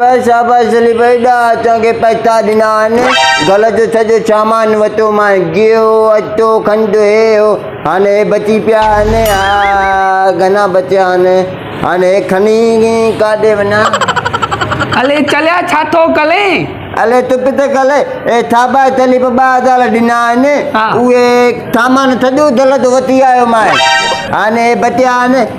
پر شاباش سليم ايڏا اچڻ کي پئسا ڏنا آهن گل جو سڄو سامان وتو مانء گيهو اٽو کنڊ هي هو هاڻ هي بچي پيا آهن ها گهنا بچيا آهن هاڻ هي کڻي ڪاڏي وڃان الي چليا ڇا ٿو ڪلين الي تو ڪٿي ڪلين هي شاباش سليم ٻه هزار ڏنا آهن اهي سامان سڄو دل جو وتي آيو مانء هاڻ هي بچيا آهن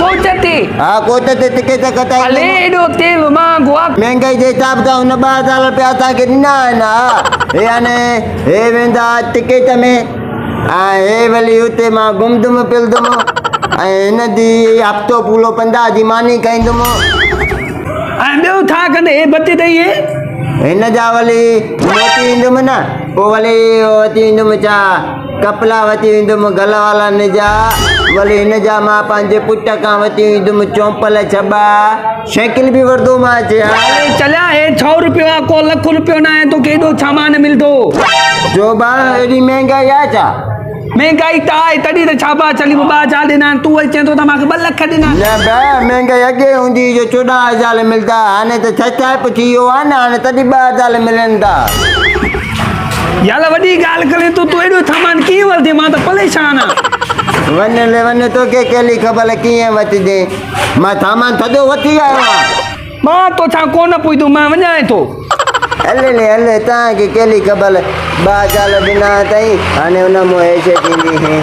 ڪوئٽه تي. ها ڪوئٽه تي تکي تک تائين. هلي ايڏو تيل مان گوا. مهنگائي جي حساب سان هن ٻه هزار رپيا اسان کي ڏنا آهن ها هي هاڻي هي ويندا ٽڪيٽ ۾ ۽ هي ولي هتي مان گهمدم پلدم ۽ هن دي هفتو پورو پندا جي ماني کائيندم ۽ ٻيو ٿا ڪندي هي بتي تي هي هن جا ولي موٽي ايندم نه پو ولي اچي ايندم ڇا ڪپلا وتي ويندم گل والا نجا ولي هن جا مان پنهنجي پٽ کان وتي ويندم چونپل ڇٻا شيڪل به وردو مان اچي ها ولي چليا هي ڇهو روپيو آ ڪو لک روپيو نه آهي توکي ايڏو سامان ملدو جوبا ايڏي مهنگائي آ ڇا؟ مهنگائي ته آهي تڏهن ته ڇاٻا چلي ٻه هزار ڏنا آهن تون وري چين ٿو ته مان کي ٻه لک ڏنا آهن نه به مهنگائي اڳي هوندي هئي جو چوڏهن هزار ملدا هاڻي ته ڇهه ڇهه به ٿي ويو آ نه هاڻي تڏهن ٻه هزار ملن ٿا يالا وڏي ڳالهه ڪرين ٿو تون ايڏو سامان ڪيئن ورتين مان ته پريشان آهيان. وڃ لي وڃ توکي ڪهلي خبر ڪيئن وتجي مان سامان ٿڌو وتي آيو آهيان. مان توسان ڪونه پڇدم مان وڃانء ٿو. هل لي هل توهان کي ڪهلي خبر ٻه جال ڏنا اٿئي هاڻي ان مون هيش ٿيندي.